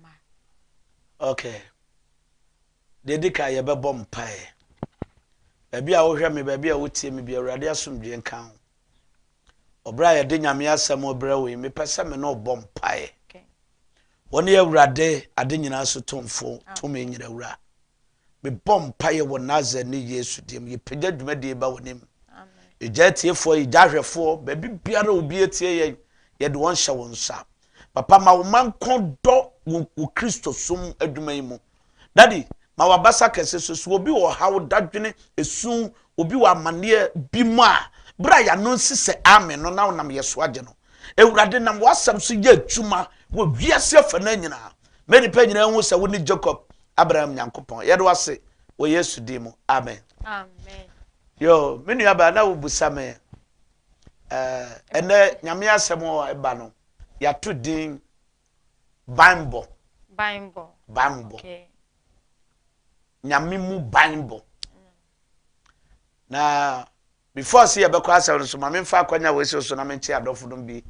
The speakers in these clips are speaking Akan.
ma. Ok. Deɛ ɛdi kan yɛbɛbɔ mpaeɛ. Baabi a wohwɛ me, baabi a wotie me bi, Awurade asomdwoeɛ nka ho. Ɔberɛ a yɛde Nyame asɛm brɛ wo yi, mepɛ sɛ me ne wo bɔ mpaeɛ. Wone Awurade ade nyinaa so tumfo, tumi nyina wura. Mebɔ mpaeɛ wɔ Nasareni Yesu din mu, yɛpagya dwumadie yi ba w'anim. Yɛgya atiefoɔ, yɛgya ahwɛfoɔ, baabi biara obi atie yɛn, yɛde wɔn hyɛ wo nsa. Papa, ma wo man ko dɔ wo, wo Kristo som adwuma yi mu. Dadi, ma w'abasa kɛse so so obi wɔ ɔhaw, dadwene, esu, obi wɔ amanneɛ bi mu a, berɛ a yɛano nsi sɛ amen no na wonam yɛ so agye no. Awurade, nam w'asɛm so yɛ adwuma wɔ wiase afa no nyinaa. Ma nnipa nyinaa hu sɛ wone Jacob Abraham Nyankopɔn. Yɛde wase wɔ Yesu din mu. Amen. Amen. Yo, me nua ba na wobusa me eh ɛnɛ nyame asɛm a ɛba no yɛato din banbɔ. Banbɔ. Banbɔ. Okay. Nyame mu banbɔ. Na Before se yɛbɛkɔ asɛm no so, ma memfa akwanya wei se so na mente adɔfonom bi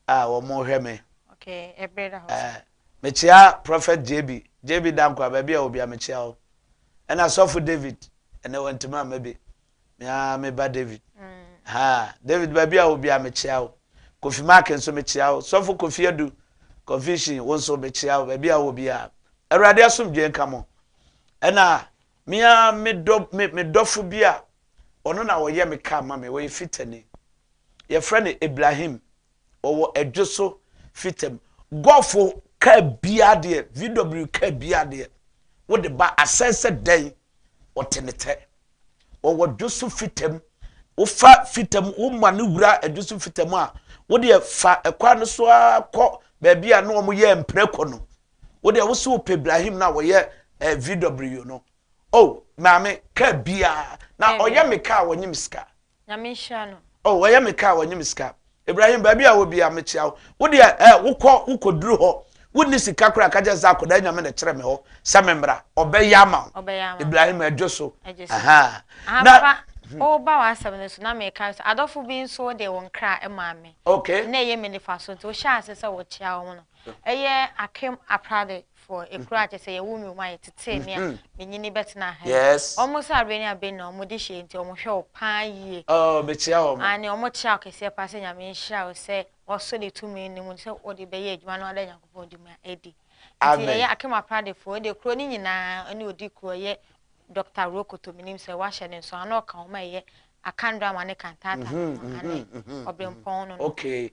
a wɔhwɛ me. Okay, ɛbere da hɔ. Eh, mekyea Prophet JB, JB Danko a baabi a wɔ bia mekyea wo. Ɛna Sɔfo David, ɛnɛ wantumi amma bi. Mea me ba David. Mm. Ha, David baabi a wɔ bia mekyea wo. Kofi Mark nso mekyea wo. Sɔfo Kofi Adu, Confusion, wo nso mekyea wo baabi a wɔ bia. Awurade asomdwoe nka mo. Ɛna Me ara me dɔ me me dɔfo bi a ɔno na ɔyɛ me car ma me, ɔyɛ fitani. Yɛfrɛ no Ibrahim, ɔwɔ Adwo so Fitam. Golf car biara deɛ, VW car biara deɛ, wode ba asɛe sɛ dɛn, ɔte ne tɛ. Ɔwɔ Adwo so Fitam. Wofa Fitam, woma no wura Adwo so Fitam a, wodeɛ fa kwan no so ara kɔ baabi a na wɔyɛ mprako no, wo deɛ wo so wopɛ Ibrahim no a wɔyɛ eh, VW no oh maame kaa biara na ɔyɛ me kaa wɔnye me sika nyame nhyira no oh ɔyɛ me kaa wɔnye me sika Ibrahim baabi a wɔbi a mekyia wo wo deɛ eh wokɔ wokɔduru hɔ wonni sika koraa ka kyɛ sɛ akɔdaa nyame na kyerɛ me hɔ sɛ memmra ɔbɛyɛ ama wo Ibrahim adwo so aha na woba w'asɛm no so na meka so adɔfo bi nso wode wo nkra maa me na ɛyɛ me nifa so nti wohyɛ ase sɛ wɔkyia wɔn no Ɛyɛ Akem Aprade foɔ ekuro a kyɛ sɛ yɛwo mi wɔn a yɛtetee me a menyini bɛtena ha yi. Yes. Wɔn sɛ adeɛ ne adeɛ nyinaa wɔn de hyɛ nti wɔn hwɛ wo paa yie. Oh mekyia wɔn. Aane wɔn kyia wo kɛseɛ paa sɛ Nyame nhyira wo sɛ wɔso ne tumi no mu sɛ wɔde bɛyɛ adwuma no ada Nyankopɔn di mu a adi. Nti Amen. ɛyɛ Akem Aprade foɔ ɛdeɛ kuro no nyinaa ɛne odi kuro ɛyɛ Doctor Rokoto menim sɛ wahyɛ ne nso ana ɔka wɔn a ɛyɛ Akandrama ne Kantaata no ho aane Ɔbrempɔn no no. Okay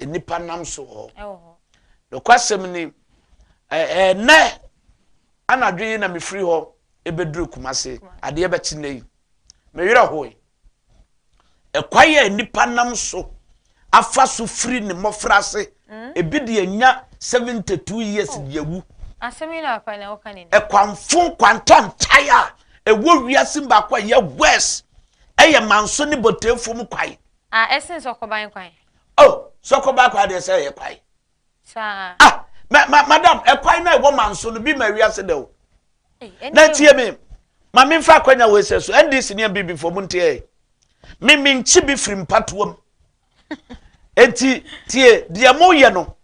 nnipa nam so wɔ hɔ nokwasɛm ni ɛnɛ anadwo yi na mefiri hɔ ɛbɛduru kumase adeɛ bɛkye nnɛ yi mewerɛ hoe ɛkwan a nnipa nam so afa so firi ne mmɔfra ase mm. ebi deɛ nya 72 years oh. deɛ wu asɛm yi na akwan na woka ne ɛkwanfo nkwantantae a ɛwɔ wiase baako a ɛyɛ west ɛyɛ manso ne bɔtɛfo mu kwae A ɛsen sɔkɔban kwan. Oh sɔkɔban kwan deɛ sɛ ɛyɛ kwan. Saa. Ah ma ma madam ɛkwan na ɛwɔ man so no bi ma wiase dɛ o. Na tie mi ma mi nfa akwanya wɔ ɛsɛ so NDC ni ɛbi bi fɔ mu nteɛ mi mi nkyi bi firi mpatoam eti tie deɛ mo yɛ no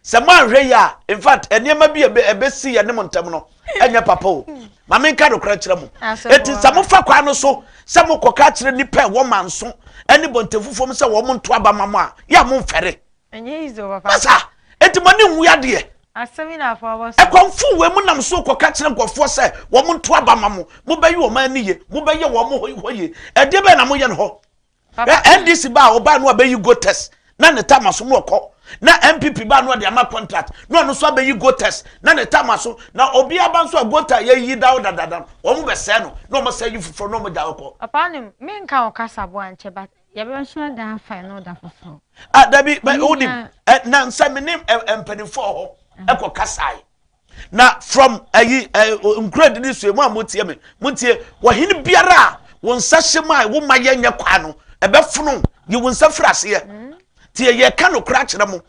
Sɛ moanhwɛ yie a, in fact, nneɛma bi a ɛbɛ- ɛbɛsi yɛne mo ntam no ɛnyɛ papa o. Ma menka nokorɛ nkyerɛ mo. Asɛm Enti sɛ wɔ. mofa kwan no so sɛ mokɔka akyerɛ nnipa a ɛwɔ Manso ne Bɔntafufuo mu sɛ wɔnto aba mma mo a, yɛ a momfɛre. Ɛnyɛ easy o papa. Masa! Enti mo ani nwu adeɛ. Asɛm yi na afa ɔbɔ so. Ɛkɔmfo wei mo nam so kɔka kyerɛ nkorɔfoɔ sɛ wɔnto aba mma mo. Mobɛyi wɔn ani yie. Mobɛyɛ wɔn hɔ yie. Ɛdeɛ bɛn na moyɛ no hɔ? Ɛ NDC ba a ɔbaa no abɛyi Gotes na ne tam aso na ɔkɔ na NPP ba no ɔde ama contract na ɔno nso abɛyi Gotes na ne tam aso na obi aba nso a Gota yɛyi da ɔdadada wɔn bɛsɛɛ no na wɔn sɛ yi foforɔ na wɔn gya ɔkɔ. Papa anim me nka wɔ kasa bo ankyɛ but yɛbɛsua da afa ɛno da foforɔ. Ah dabi bɛ wonim ɛ nansa me ne ɛ mpanimfoɔ hɔ ɛkɔ kasae. Na from ayi eh, eh, nkuradi ne sue mu a motie me montie wɔhene biara a wo nsa hyɛ mu a wo ma yɛnyɛ kwaa no ɛbɛfono yi wo nsa firi aseɛ mm. tie yɛka nokora akyerɛ mo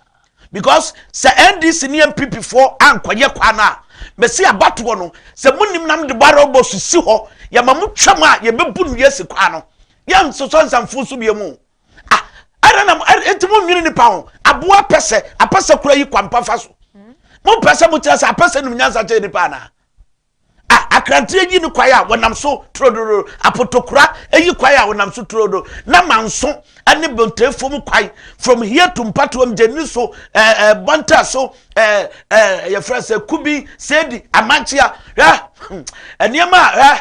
because sɛ ndc ne npp foɔ ankɔyɛ kwaa no a mɛsi abatoɔ no sɛ monim nam de bara bɔ so si hɔ yɛma mo twam a yɛbɛbu no yɛsi kwaa no yɛnsosɔ nsamfo so bie mu ah ɛna na ɛnti mo nwene nipa ho aboa apɛsɛ apɛsɛ kura yi kwampa fa so mo mpɛsɛ mo kyerɛ sɛ apɛsɛ nim nyansa kyɛ nipa anaa ah akranteɛ yi ne kwae a wɔnam so turodoro apotokura eyi kwae a wɔnam so turodo na manso ɛne bɔntɛfo mu kwae from here to mpatoam gyeni so ɛɛ eh, eh, bɔntɛ so ɛɛ eh, ɛɛ yɛfrɛ sɛ kubi sɛdi amankyea ɛ nneɛma ɛ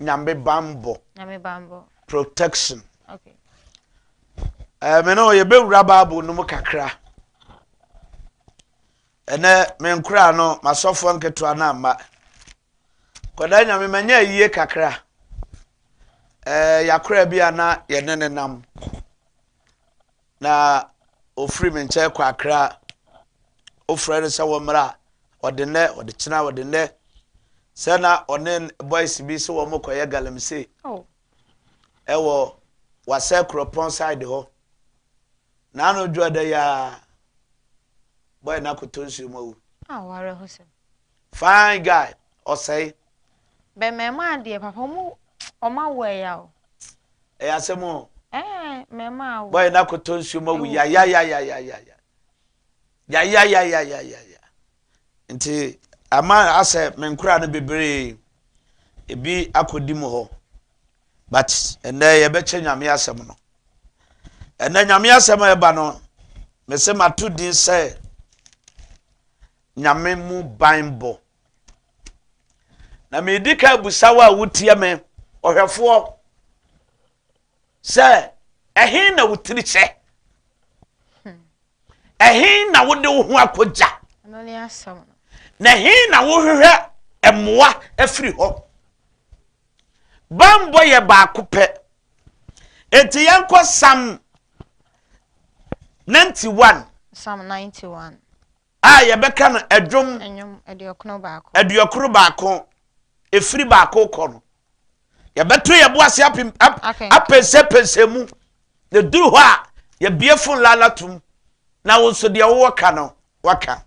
Nyame banbɔ. Nyame banbɔ. Protection. Okay. Eh, me no yɛbɛwura bible no mu kakra ɛnɛ me nkora no masɔfoɔ nketewa no amma kɔda nyame manya ayie kakra eh, yɛakora bi a na yɛne ne nam Na ɔfiri me nkyɛn kɔ Akra. Wofrɛɛ no sɛ wɔmmra, ɔde nnɛ, ɔde kyena, ɔde nnɛ. Sɛ na ɔne boys bi sɛ wɔn kɔyɛ galamsey ɛwɔ Wasɛ Kuropɔn side hɔ. Naano dwoɔda yi ara boy no akoto nsuo mu awu. Aw, awerɛhosɛm. Fine guy ɔsɛe. Bɛmɛn mu a deɛ papa ɔmo ɔmo awo ɛya o. Ɛyɛ asɛm o. Ɛɛ mɛma awo. Bɔyɛ na kɔtɔ nsuo ma wu yayayayayaya yayayayayaya nti ama asɛ me nkora no bebree ebi akɔdi mu hɔ but ɛnɛ yɛbɛkyɛ nyame asɛm no ɛnɛ nyame asɛm a ɛba no mese mato din sɛ Nyame mu banbɔ. Na meredi kan abusa wo a wotie me, ɔhwɛfoɔ, sɛ ɛhe na wo tiri hyɛ? Ɛhe na wode wo ho akɔgya? Na ɛhe na wohwehwɛ mmoa afiri hɔ? Banbɔ yɛ baako pɛ. Enti yɛnkɔ Psalm 91. Psalm 91. A yɛbɛka no ɛdwom. Ɛnwom aduɔkono baako. Aduɔkono baako. Ɛfiri baako kɔ no. Yɛbɛto yɛ bo ase apɛnsɛpɛnsɛ mu. Na duru hɔ a yɛbie fon lala tum. Na wo nso deɛ wowɔ ka no waka.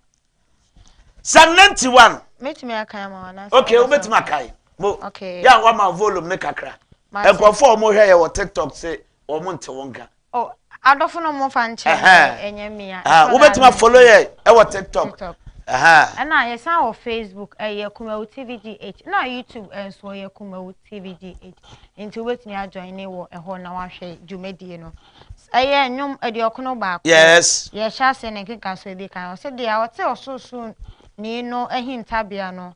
Psalm 91. Mɛtumi akan ma wana. Okay, wobɛtumi akan. Mo. Okay. Yɛ a wama volume ne kakra. Nkurɔfoɔ a wɔhwɛ yɛ wɔ TikTok se wɔn nte wo nka. Oh, adɔfo no mo fa nkyɛn ɛnyɛ mi a. Wobɛtumi afollow yɛ ɛwɔ tiktok. Ɛna yɛsan wɔ facebook ɛyɛ Kumawu TV GH na youtube ɛnso eh, yɛ Kumawu TV GH nti wobɛtumi ajoin ne wɔ ɛhɔ na wahwɛ dwumadie no. Ɛyɛ nnwom aduɔkono baako. Yes. Yɛhyɛ ase ne nkeka so ebi kan ɔsɛ deɛ ɔte ɔsorosoro ni no ahintabea no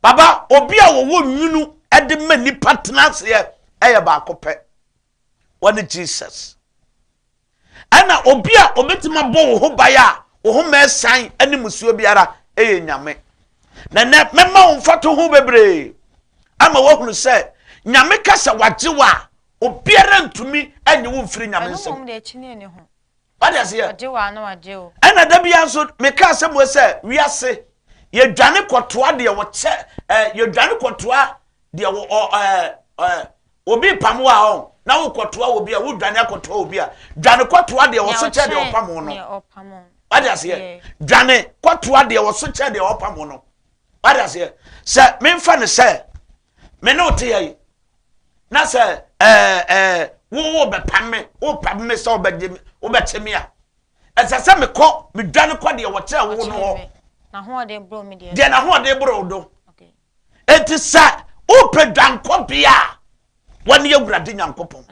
Papa, obi a wɔwɔ nwunu de ma nnipa tena aseɛ yɛ baako pɛ. Wɔne Jesus. Ɛna obi a obɛtumi abɔ wo ho ban a wo ho ma ɛsan ne musuo biara yɛ Nyame. Na nɛ mɛma wo mfato ho bebree ama woahunu sɛ Nyame ka sɛ wagye wo a obiara ntumi nye wo mfiri Nyame nsam. wade aseɛ Ɔgye wo a na wagye wo. ɛna da biara nso meka asɛm wɔ sɛ wiase yɛdwane kɔtoa deɛ wɔkyɛ eh, yɛdwane kɔtoa deɛ wɔ ɔ eh, eh, obi pam wo a ɔ na wokɔtoa obi a wodwane akɔtoa obi a dwane kɔtoa deɛ wɔso kyɛ deɛ ɔpam wo no wade aseɛ dwane kɔtoa deɛ wɔso kyɛ deɛ ɔpam wo no wade aseɛ sɛ memfa no sɛ me ne wo teyɛ yi na sɛ ɛɛ ɛɛ wo wo bɛpam me wo pam me sɛ wobɛgye me wobɛkye me a ɛsɛ sɛ mekɔ medwane kɔ deɛ wɔkyerɛ wo no hɔ deɛ n'ahoɔden boro do enti sɛ wopɛ dwankɔbea a wɔne awurade nyankopɔn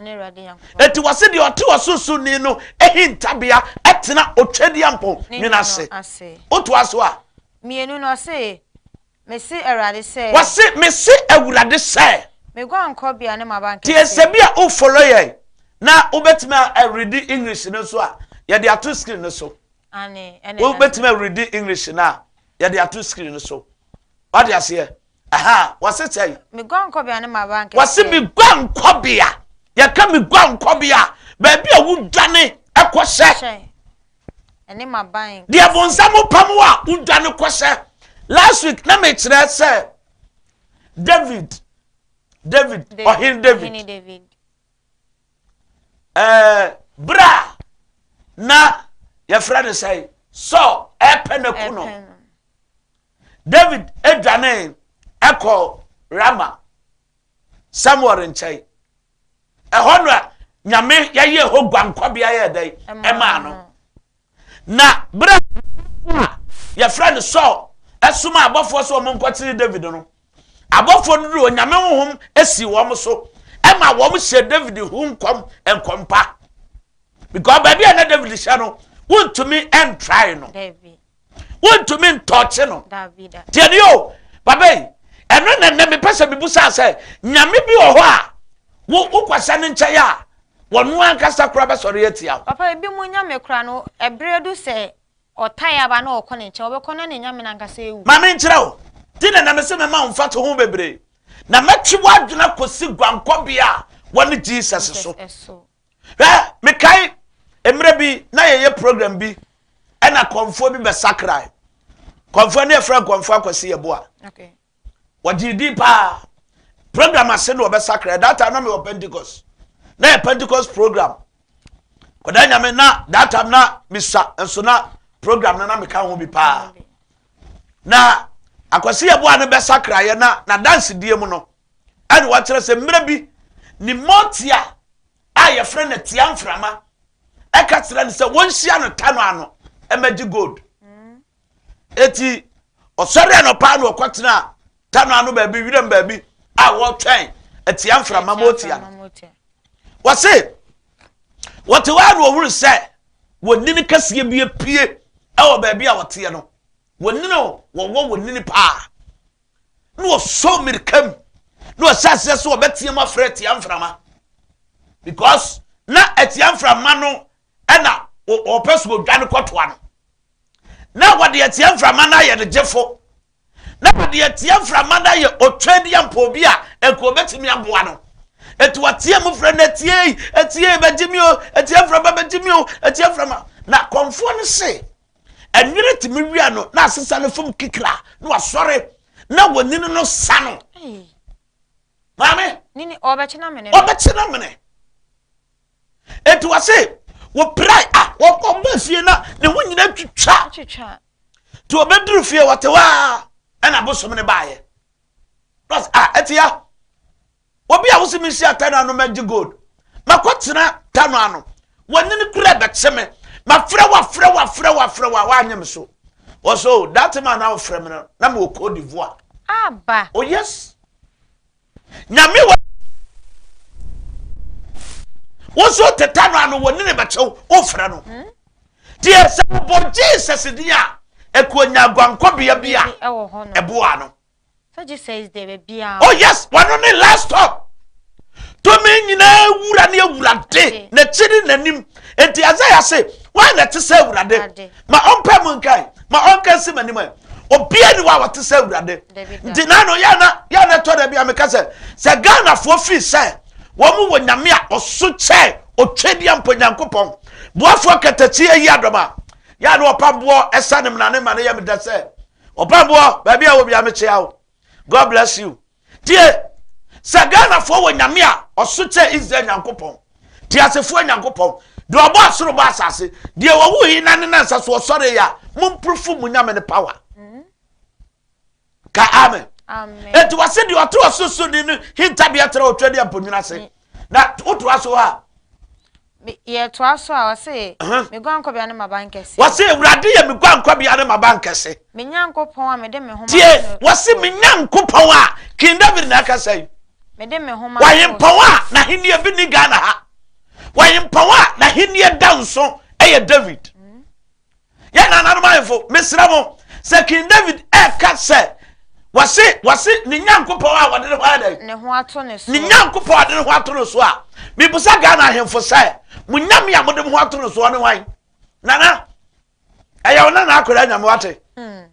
enti wɔ se deɛ ɔte ɔsorosoni no ahintabea ɛtena otwadeɛ mpɔn nwena ase wotoa so a mmienu no ɔse Mese Awurade sɛ. Wɔse, Mese Awurade sɛ. Me guankɔbea ne m'abankɛseɛ. Tie sɛ bi a wo follow yɛn na wo bɛtumi a readi English no nso a yɛde ato screen no so. Ane, ɛne Wo bɛtumi a readi English no a yɛde ato screen no so. Wade aseɛ? Aha, wɔse sɛ. Me guankɔbea ne m'abankɛseɛ. Wɔse me guankɔbea. Yɛka me guankɔbea a, baabi a wodwane kɔhyɛ. ɛne m'aban. Deɛ bonsam pam wo a wodwane kɔ sɛ last week na mekyerɛ sɛ David David ɔhene David ɛɛ bra na yɛfrɛ no sɛ Saul ɛpɛ na ku no David adwane ɛkɔ Rama Samuel nkyɛn. Ɛhɔ no a Nyame yɛyɛɛ hɔ guankɔbea yɛɛ dɛn ɛmaa no. Na berɛ a yɛfrɛ no Saul ɛsoma abɔfoɔ sɛ wɔn nkɔkyere David no, abɔfoɔ no duru Onyame honhom esi wɔn so ɛma wɔn hyɛ David ho nkɔm nkɔmpa because baabi a na David hyɛ no wontumi ɛntrae no. wontumi ntɔɔkye no deɛ ne o baba yi ɛno na nnɛ mepɛ sɛ mebu saa sɛ nyame bi wɔ hɔ a wo wokɔhyɛ no nkyɛn a wɔn ankasa kora bɛsɔre atia wo papa ebi mu nyame kora no ɛberɛ du sɛ ɔtae aba na ɔkɔ ne nkyɛn ɔbɛkɔ na ne nyame no ankasa ewu ma menkyerɛ wo di na na mese mema wo mfa to ho bebree na mɛtwe w'adwena kɔsi guankɔbea a wɔne jesus so Hwɛ, mekae mmerɛ bi na yɛyɛ program bi ɛna kɔnfoɔ bi bɛsakrae. Kɔnfoɔ ne yɛfrɛ kɔnfoɔ akwasi yɛboa. Okay. Wɔgyee din paa. Program ase na wɔbɛsakrae. That time na mewɔ Pentecost. Na yɛ Pentecost program. Kɔdaa nyame na that time na misa nso na program no na meka ho bi paa. Na akwasi yɛboa no bɛsakraeɛ na na dansedie mu no. Ɛna wakyerɛ sɛ mmerɛ bi ne Motia a yɛfrɛ no Atia Mframa ɛka kyerɛ no sɛ wɔnhyia no Tano ano mmɛgye gold. Eti ɔsɔre anɔpa na ɔkɔtena Tano ano baabi wiram baabi a wɔtwɛn Atia Mframa Motia no. Wɔse wɔte hɔ a na ɔhunu sɛ wɔnini kɛseɛ bi apue ɛwɔ baabi a wɔteɛ no. Wɔnini wɔwɔ wɔnini paa. na wɔsɔ mmirika mu na wɔhyɛ aseɛ sɛ wɔbɛteam afrɛ atia mframa because na atia mframa no ɛna wɔpɛ so odwa no kɔtoa no na wɔde atia mframa no ayɛ ne gyefo na wɔde atia mframa no ayɛ otwa di ampɔ bi a nka wɔbɛtumi aboa no ɛti wɔteɛ mu frɛ no atie atie bɛgye mi o atia mframa bɛgye mi o atia mframa na kɔnfoɔ no se ɛnwene tumi wia no na asesa no fam kikra na wasɔre na wɔnini no sa no maame ɔbɛkye na mene ɔbɛkye na mene eti wɔ se wɔpira a wɔbɔ fie na ne ho nyina twitwa nti wɔbɛduru fie wɔte hɔ a ɛna bosom no baeɛ a ɛte ya Obi a wose menhyia Tano ano mɛgye gold makɔtena Tano ano wanyini kura ɛbɛkye me mafrɛ wo afrɛ wo afrɛ wo afrɛ wo a woanyɛ me so wɔsɛ o that man a wofrɛ me no na mewɔ Cote d'Ivoire aba o oh, yes nyame wɔ wo so te Tano ano wanyini bɛkyew wofrɛ no hmm? deɛ sɛ wobɔ Jesus din a ɛkɔnya aguankɔbea bi a ɛboa no So Jesus is the biara. Oh yes, wano ne last stop. Tumi nyinaa wura ne awurade na akyi ne n'anim. Enti Isaiah se, wan na ɛte sɛ awurade? Ma ɔmpɛ mu nkae, ma ɔnka nsi m'anim ɛ. Obia ni wa wɔte sɛ awurade. Nti na no yɛ na yɛ na ɛtɔ da bi a meka sɛ sɛ Ghanafoɔ firi sɛ wɔn wɔ nyame a ɔso kyɛ ɔtwa deɛ mpo nyankopɔn boafoɔ katakyi ayi adɔm a yɛ na ɔpamboɔ ɛsa ne mena ne ma no yɛ meda sɛ Ɔbɛnboɔ baabi a wɔ bia mekyea wo God bless you tie sɛ Ghanafoɔ wɔ nyame a ɔso kyɛ Israel nyankopɔn te asefoɔ nyankopɔn deɛ ɔbɔ asoro bɔ asase deɛ wɔwo yi na ne nansa so ɔsɔre yɛ a momprofo mu nyame ne power mm-hmm. ka amen enti wɔse deɛ ɔte ɔsosoni no hintabeɛ tra ɔtwa ne aponwunu ase mm. na wotoa so a Me, yɛtoa so a, ɔse, Aha. Me guankɔbea ne m'abankɛse. Wɔse, Awurade yɛ me guankɔbea ne m'abankɛse. Me Nyankopɔn a mede me homa Tie, to no. wɔse, Me Nyankopɔn a, King David na ɛkasa yi. Mede me homa to no. Ɔhempɔn a n'ahennie bi nni Ghana ha. Ɔhempɔn a n'ahennie da nso yɛ David. Yɛn nananom ahemfo, mesrɛ mo, sɛ King David reka sɛ, Wɔse, wɔse ne Nyankopɔn a wɔde ne ho ayɛ dɛn? Ne ho ato ne so. Ne Nyankopɔn a wɔde ne ho ato no so a, mebisa Ghana ahemfo sɛ, mo Nyame a mode mo ho ato no soɔ ne wan? Nana, ɛyɛ wo nana akwadaa Nyame wate. Hmm.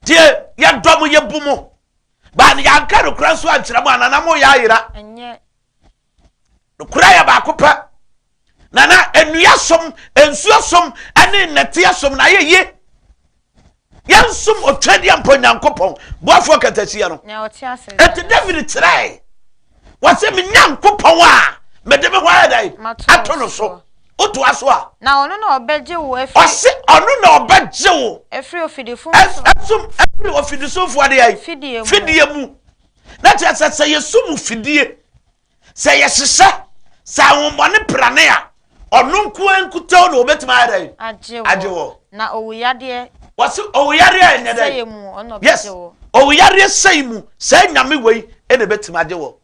Tie, yɛdɔ mo, yɛbu mo. Baa ne yɛanka no kora nso ankyerɛ mo a, nana mo yɛ ayera. Nokorɛ yɛ baako pɛ. Na na nnua som, nsuo som, ne nnɛteɛ som na ayɛ yie. Yɛnsom Otwadeɛ Mpa Onyankopɔn, Boafoɔ Kɛtɛsia no. Enti David kyerɛe, wɔse, Me Nyankopɔn a mede me ho ayɛ dɛn? Ato no so. Wotoa so a. Na ɔno na ɔbɛgye wo afiri. Ɔse ɔno na ɔbɛgye wo. Afiri ofidifomfoɔ. Ɛsom afiri ofidisomfoɔ deɛ. Fidie mu. Fidie mu. Na kyerɛ sɛ sɛ yɛso mu fidie, sɛ yɛhyehyɛ, sɛ ahombɔne prane a, ɔno nkoa nkutoo na ɔbɛtumi ayɛ dɛn? Agye wɔ. Na owuyadeɛ. Wɔse owuyadeɛ ɛnyɛ dɛn? Sɛe mu ɔna ɔbɛgye wɔ. Yes, owuyadeɛ sɛe mu saa nyame wei na ɛbɛtumi agye wɔ.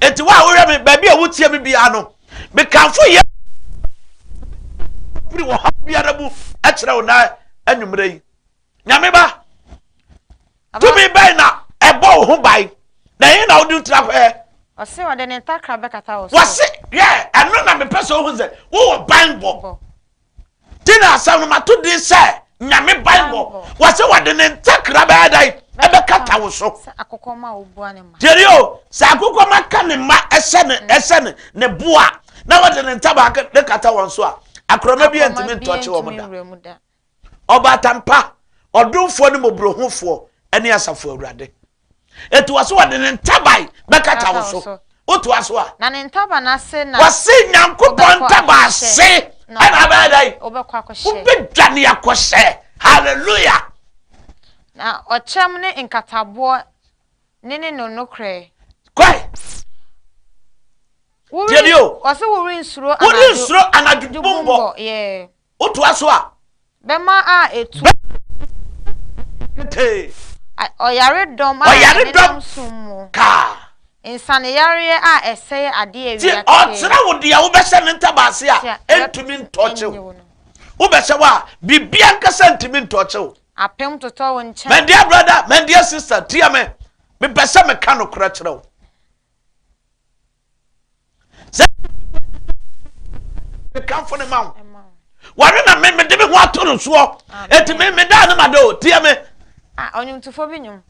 Enti wo a wohwɛ me, baabi a wotie me biara no, mekamfo yɛ firi ɔhaw biara mu kyerɛ wo na anwummerɛ yi. nyame ba tumi bɛn na ɛbɔ wo ho ban na ɛhe na wode wotira hwɛɛ ɔse ɔde ne ntakra bɛkata wo so wɔse yɛ ɛno na mepɛ sɛ wohu sɛ wowɔ ban bɔ nti na asɛm no mato din sɛ nyame ban bɔ wɔse wɔde ne ntakra bɛyɛ dan ɛbɛkata wo so tiɛni o sɛ akokɔma ka ne mma ɛhyɛ ne mm. ɛhyɛ ne ne boa na wɔde ne ntabaa ne kata wɔn so a akorɔma bi ntumi ntɔkye wɔn da Ɔbaatan pa, ɔdomfoɔ ne mmɔborɔhunufoɔ ne asafo Awurade. Ɛtoa so, ɔde ne ntaban bɛkata wo so. Wotoa so a. Na ne ntaban ase na. Wɔse Nyankopɔn ntaban ase ɛna abɛyɛ dɛn? Wobɛdwane akɔhyɛ. Hallelujah. Na ɔkyɛm ne nkataboɔ ne ne no nokorɛ. Kwae. Wɔse worensuro anadwo. Worensuro anadwo dubumbɔ. Yeah. Wotoa so a. Bɛmma a etu. Ketee. Ɔyaredɔm a ɛnenam sum mu. Kaa. Nsaneyareɛ a ɛsɛe adeɛ awia ketee. Nti ɔkyerɛ wo deɛ wobɛhyɛ ne ntabaase a ɛntumi ntɔɔkye wo. Wobɛhyɛ hɔ a, biribiara ankasa ntumi ntɔɔkye wo. Apem totɔ wo nkyɛn. My dear brother, my dear sister, tie me. Mepɛ sɛ meka nokorɛ kyerɛ wo. sɛ kamfo ne ma wo wɔre na me mede me ho ato no soɔ ɛti me medaa ne mada o tiɛ me ɔnwomtofoɔ bi nwom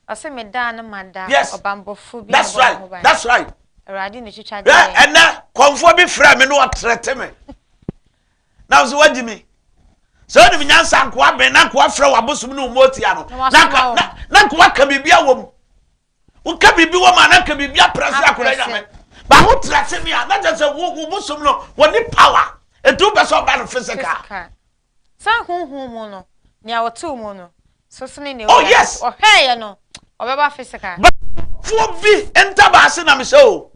ɔse medaa ne mada ɔbambɔfoɔ bi that's right that's right awurade ne twitwa deɛ ɛnɛ kɔmfoɔ bi frɛ me ne ɔtrɛte me na wo sɛ woagye me sɛ wonim nyansa nkoa ben na nkoa frɛ w'abosom ne wo mɔtia no na nkoa ka biribia wɔ mu woka biribi wɔ ma na nka biribi apra sɛ akɔda nyame ba wo tra se ne a na kyɛ sɛ wo bosom no wɔne power ɛti wopɛ sɛ ɔba no physical sɛ honhom mu no nea ɔtew mu no so sene ne oh yes ɔhwɛɛyɛ no ɔbɛba physical foɔ bi ntabaa se na mesɛ o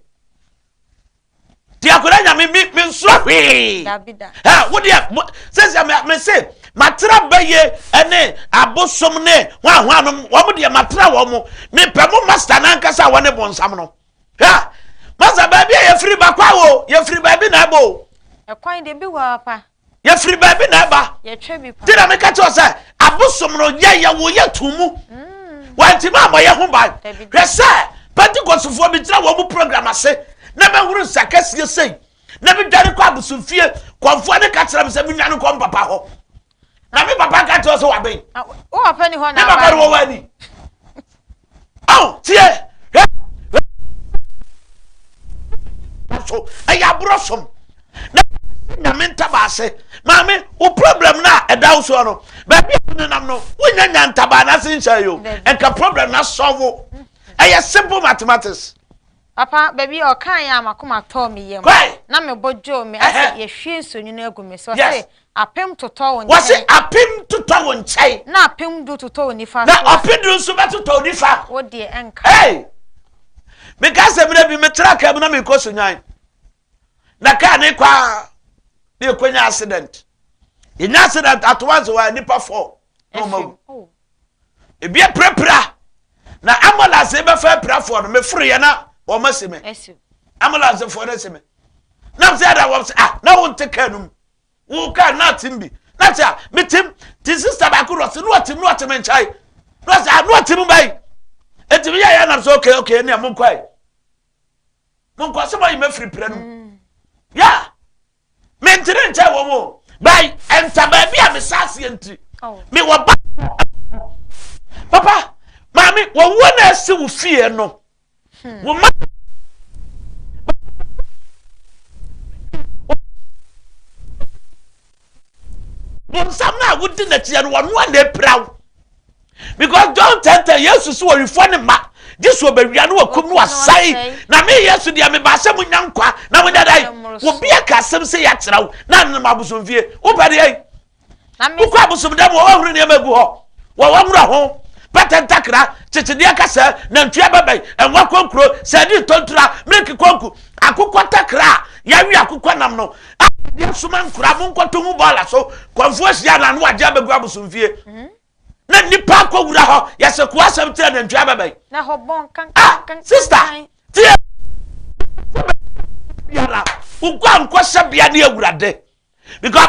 ti akwadaa nyame mi mi nsoro hwee ɛ wo deɛ mo sɛsɛ mɛ mɛ se matera bɛyɛ ɛne abosom ne hwahwa nom wɔn deɛ matera wɔn mo mi pɛ mo master nankasa wɔn ne bonsam no ɛ master baabi a yɛfiri bakwa o yɛfiri baabi na ɛbɔ o. ɛkwan deɛ bi wɔ apa yɛfiri baabi na ɛba nti na meka kyerɛ sɛ abosom no yɛyɛ wo yɛ to mu mm. wantimi ammɔ yɛ ho ban hwɛ sɛ pentecostefoɔ megyina wɔ mu program ase na mɛhoro nsakɛseɛ sei na medwane kɔ abosomfie kɔmfoɔ ne ka kyerɛ me sɛ menwane kɔ m papa hɔ na me papa ka kyerɛ sɛ waben me papa no wɔwɔ ani ɔn tie hwɛ so ɛyɛ aborɔ som na nyame ntabaa ase maame wo problem no a ɛda wo soɔ no baabi a wonenam no wonya nya ntabaa no ase nhyɛ yo ɛnka problem no asɔvo ɛyɛ simple mathematics Papa, baabi a ɔkaeɛ a m'akoma tɔɔ me yam, na me bo dwoo me, ɔse, Yɛahwie nsuonwunu agu me so, ɔse, Apem totɔ wo nkyɛn. Ɔse, Apem totɔ wo nkyɛn. Na apem du totɔ wo nifa so. Na ɔpe du nso bɛtotɔ wo nifa. Wo deɛ ɛnka. Hey! Meka sɛ mmerɛ bi metra kaa mu na mekɔ Sunyani. Na kaa ne kɔ a, na yɛkɔnya accident. Yɛnya accident at once wɔ nipa four. na wɔn awu ebi apirapira na ambulance bɛfa apirafoɔ no meforo yɛ na wɔn asi me ambulance foɔ no asi me na sɛ ɛda wɔn sɛ ah na wɔn te kaa no mu wɔn kaa na atim bi na sɛ ah metim te sista baako rɔ sɛ na wɔtim na wɔtim nkyɛn na wɔsɛ ah na wɔtim bɛyi etimi yɛ yɛ nam sɛ okay okay ɛni ɛmu nkɔ yi. monkɔ sɛ moayi mafiri prɛ no mm. ya mentene nkyɛn wɔ mo bɛn ɛnta baabi a mesa aseɛ nti oh. mewɔ ba papa maame wɔwuo na asi wo fie no hmm. wo ma Bonsam no a wodi n'akyi no, ɔno ara na apira wo. Because John 10:10, Yesu so ɔwifɔ ne mma, gye so ɔbɛwia no wakum no wasɛe. Na me Yesu deɛ mebaa sɛ monya nkwa na monya da yi. Obi aka asɛm sɛ yɛakyerɛ wo na anenam abosomfie. Wopɛ deɛ yi. Wokɔ abosomdam wɔ wɔhoro nneɛma agu hɔ. Wɔ wɔhoro ho. Pɛtɛ ntakra, kyekyedeɛ kasa, nantwie abɛbɛn, ɛnwa kɔnkuro, sɛdi ntɔntura, miliki kɔnku, akokɔ takra a yɛawe akokɔ nam no, a wɔde asoma nkura monkɔto ho bɔɔla so kɔmfo ahyia no ano agye abɛgu abosomfie mhm. na nnipa akɔwura hɔ yɛsɛ ko asɛm kyerɛ nantwi abɛbɛn ah, sista tie biara woguankɔhyɛ bea ne awurade because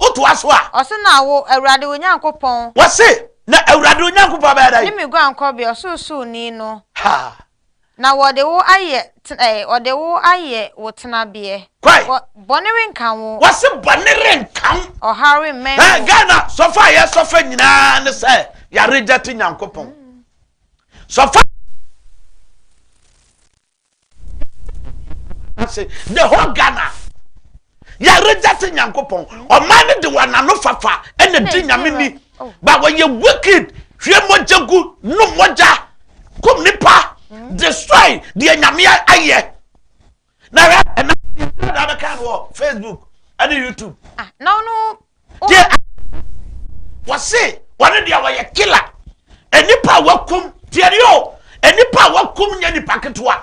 Wotoa so a. Ɔse, Na wo, Awurade wo Nyankopɔn. Wɔse, Na Awurade wo Nyankopɔn bɛyɛ dɛn? Ne me guankɔbea, Ɔsorosoroni no. Ha! Na wɔde wo ayɛ, eh, wɔde wo ayɛ wo tenabeɛ. Kwae. Wɔ, bɔne renka wo. Wɔse, Bɔne renka wo. Ɔhaw remmɛn wo. Eh, Ghana sɔfo a yɛsɔfo nyinaa ne sɛ yɛaregyɛte Nyankopɔn. Sɔfo. ase the whole Ghana yɛ reject Nyankopɔn ɔman no de wɔn ano fafa ɛna di nyame ni ba wɔyɛ wicked hwie mogya gu nom mogya kum nipa destroy deɛ nyame ayɛ na hwɛ ɛna ɛna bɛka no wɔ Facebook ɛne YouTube. Ah, na ɔno Deɛ a wɔse wɔne deɛ wɔyɛ killer nnipa a wakum tiɛni o nnipa a wakum nyɛ nipa ketewa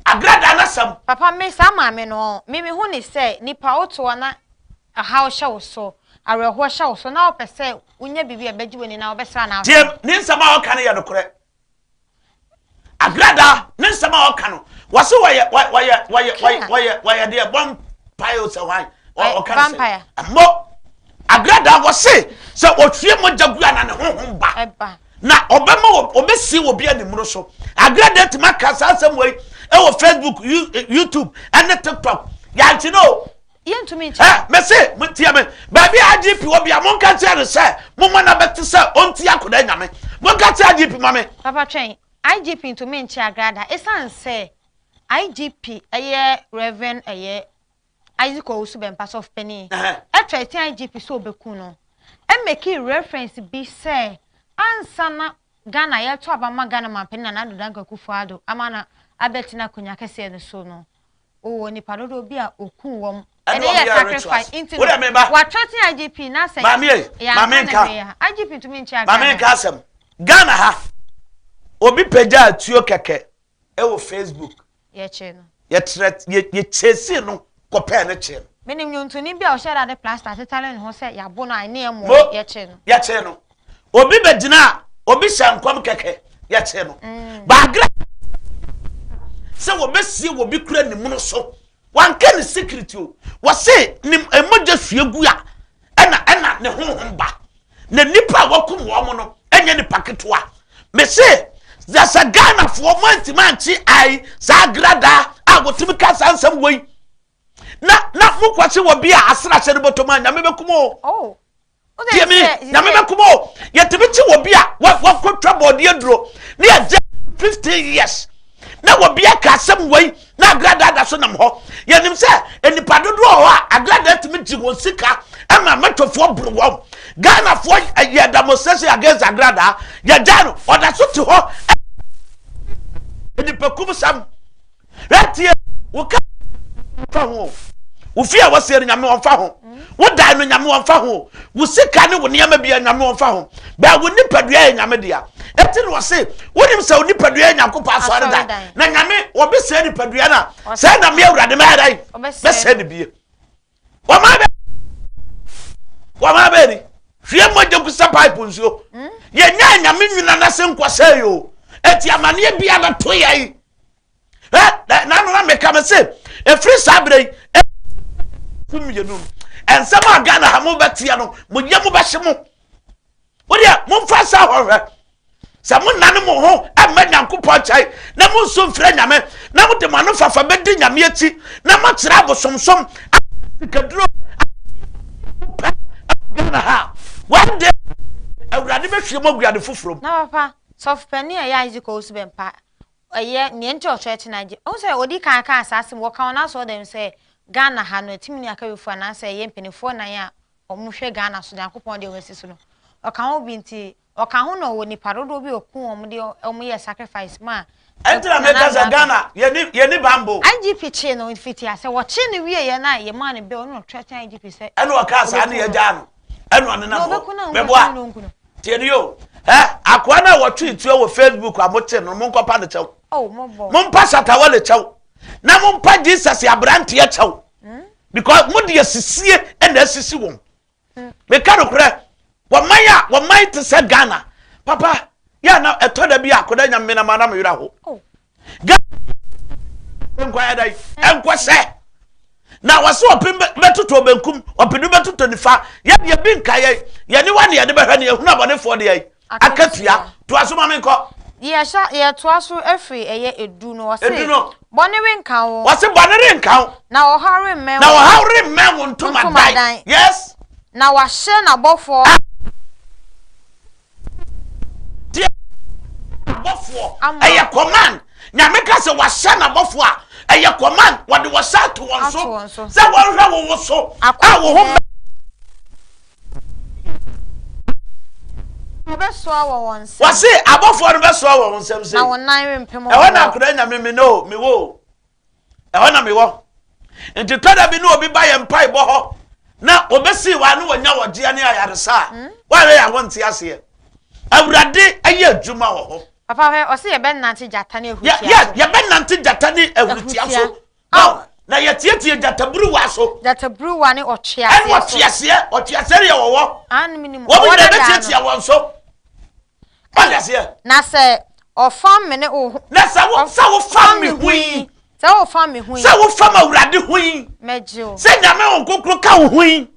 agradaa n'asɛm. Papa me saa maame no me me hu ne sɛ nipa wotoɔ na ɔhaw hyɛ wo so awerɛhoɔ hyɛ wo so na wopɛ sɛ wonya biribi a ɛbɛgye w'ani na wobɛsra n'aso. Tie ne nsɛm a ɔka no yɛ nokorɛ Agrada ne nsɛm a ɔka no wɔse wɔyɛ wɔyɛ wɔyɛ wɔyɛ wɔyɛ deɛ bɔ mpaeɛ sɛ hwan ɔka no sɛ ɛmmɔ agrada wɔse sɛ ɔhwie mogya gu a na ne honhom ba na ɔbɛma ɔbɛsi wɔ bi animuro so agrada tumi aka saa asɛm wei ɛwɔ facebook eh, youtube ɛne tiktok yɛankye no o Yɛntumi nkyɛ no. Ɛ, mese, montie me. Baabi a IGP wɔ biara, monka nkyerɛ no sɛ momma no abɛte sɛ ɔntie akɔdaa nyame. Monka kyerɛ IGP ma me. Papa twɛn, IGP ntumi nkyɛ Agra da esiane sɛ IGP yɛ Rev. Ɛyɛ Isaac Owusu Bɛmpa sɔfopanin. Ɛtɔ asia IGP sɛ ɔbɛku no. Ɛmɛki reference bi sɛ ansa na Ghana yɛto aba ma Ghana mampanin Nana Addo Dankwa Akufo-Addo ama no abɛte n'akonwa kɛseɛ no so no, Ɔwɔ nipa dodoɔ bi a ɔkuu wɔn. Ɛne wɔn yɛ rituals. Wo dɛ meba. Wɔatwerɛte IGP na sɛ. Maame ye, maame nka. IGP ntumi nkyɛ akan. Maame nka asɛm. Ghana ha, obi pagyaa atuo kɛkɛ wɔ Facebook. Yɛkyee no. Yɛtrɛ, yɛ, yɛ chasee no kɔpɛɛ no kyee no. Menim nnwontoni bi a ɔhyɛɛ da de plaster atetare ne ho sɛ yɛabo no a, ɛne ɛmmoa. Yɛkyee no. Yɛkyee no. obi bɛ gyina a obi hyɛ nkɔm kɛkɛ yɛkye no mm. baagra sɛ wɔbɛsie wɔbi kura ne munu so wanka ne secret o wɔse ne mmogya sua gu a ɛna ɛna ne honhom ba na nipa a wakum wɔn no ɛnyɛ nipa ketewa mese yɛsɛ ghanafoɔ mo antimi ankye ai saa gradaa a wɔtumi ka saa nsɛm wei na na mokɔkye wɔ bi a asena hyɛ no bɔtɔm a nyame bɛkum o oh. tie me nyame bɛkoma o yɛtumi kye wɔ bi a wakɔtwa bɔɔdeɛ aduro ne yɛgye 15 years na wɔ bi aka asɛm wei na agradaa da so nam hɔ yɛnim sɛ nnipa dodoɔ hɔ a agradaa tumi gye wɔn sika ɛma mɛtɔfoɔ boro wɔn ghanafoɔ eh, yɛ demonstration against agradaa yɛgya no ɔda so te hɔ eh, nnipakum sam Hwɛ tie, wo ka ɔmfa ho o, wo fie a wɔsie no nyame ɔmfa ho, wo dan no nyame ɔmfa ho, wo sika ne wo nneɛma bia nyame ɔmfa ho, bɛɛ wo nipadua yɛ nyame dea. Eti na ɔse, wonim sɛ wo nipadua yɛ Nyankopɔn asɔredan, na nyame wɔbɛsɛe nipadua no a, sɛ na me Awurade mɛyɛ dɛn? Mɛsɛe no bie. wɔmaa bɛ wɔmaa bɛ ni hwie mogya gu sɛ pipe nsuo hmm? yɛnyɛ anyame nyina no ase nkɔsɛe o ɛti amaneɛ bia no to yɛ yi nanona meka me se ɛfiri saa berɛ yi mmienu ɛnsɛm a ghana ha mobɛteɛ no moyɛ mobɛhye mo wodeɛ momfa saa hɔ hwɛ sɛ monane mo ho mma nyankopɔn nkyɛe na monso mfrɛ nyame na mode mo ano fafa bɛdi nyame akyi na moakyerɛ abosomsom sikaduro pɛ ghana ha one day awurade bɛhwie mu aguade foforɔ na papa sɔfo panin a ɛyɛ isaac owusu bɛmpa ɛyɛ nea nti ɔkyerɛ kye na gye ɔhu sɛ ɔdi kan kan saa asɛm wɔka wɔn asɔɔ dɛm sɛ ghana ha no ɛtumi ni akabefoɔ anaasɛ ɛyɛ mpanimfoɔ nan a wɔn hwɛ Ghana so Nyankopɔn deɛ wasi so no ɔka ho bi nti ɔka ho na ɔwɔ nipa dodoɔ bi ɔku wɔn de wɔn yɛ sacrifice ma ɛntina meka sɛ Ghana yɛni bambo IGP kyee no fiti asɛ wɔkyee no wie yɛ na yɛ maa no bɛ ɔno na ɔtrɛtɛn IGP sɛ ɛna ɔka saa ne yɛgyaa no ɛna ɔne nam hɔ mɛboa tie no yo ɛ akoa no a wɔtwe tuo wɔ Facebook a mote no monkɔpa no kyɛw oh, mompa satawale kyɛw na mompa Jesus aberanteɛ kyɛw because mo deɛ sisie ɛna asisi wɔn meka nokorɛ wɔman a wɔman te sɛ ghana papa yɛ na ɛtɔ da bi a akɔda nya mmena ma na mo werɛ ho oh. nkɔyɛ dɛ ɛnkɔ sɛ na wɔsɛ ɔpem bɛtotɔ benkum ɔpem bɛtotɔ nifa yɛdeɛ bi nka yɛ yɛne wa ne yɛde bɛhwɛ ne yɛhunu abɔnefoɔ deɛ Akatua, toa so ma me nkɔ. Yɛhyɛ, yɛtoa so firi ɛyɛ edu no, ɔse. Edu no. Bɔne renka wo. Ɔse bɔne renka wo. Na ɔhaw remmɛn wo. Na ɔhaw remmɛn wo ntomadan. Yes. Na wahyɛ n'abɔfoɔ. Ah. Deɛ abɔfoɔ. Ama. Ɛyɛ command. Nyame ka sɛ wahyɛ n'abɔfoɔ a, ɛyɛ command. Wɔde wɔhyɛ ato wɔn so. Ato wɔn so. Sɛ wɔnhwɛ wo wo so. Akɔ. A wo ho. Wɔbɛsoa wɔ wɔn nsam. Wɔse abɔfoɔ no bɛsoa wɔ wɔn nsam sei. Na wɔn nan rempem mmoɔ. Ɛhɔ na akɔda nya me me no o, mewɔ o. Ɛhɔ na mewɔ. Nti tɔda bi ne obi ba yɛn mpaebɔ hɔ na wɔbɛsii wɔn ano wɔnya wɔgyeɛ ne ayaresa a, hmm? wɔayɛ yɛn ho nte aseɛ. Awurade ayɛ adwuma wɔ hɔ. Papa hwɛ, ɔse yɛbɛnante gyata ne ahurutia so. Yɛbɛnante gyata ne ahurutia so. Ao, na yɛteɛteɛ gyataburuwa so. Gyataburuwa ne ɔtweaseɛ so. Ɛne ɔtweaseɛ, ɔtweaseɛ deɛ wɔwɔ. Ano mi nim. Wɔn nyinaa bɛtiatia wɔn so. Ɔde aseɛ. Na sɛ ɔfam me ne wo ho. Na sɛ wo sɛ wofam me ho yi. Sɛ wofam me ho yi. Sɛ wofam awurade ho yi. Mɛgye o. Sɛ nyame wɔn kokoro ka wo ho yi.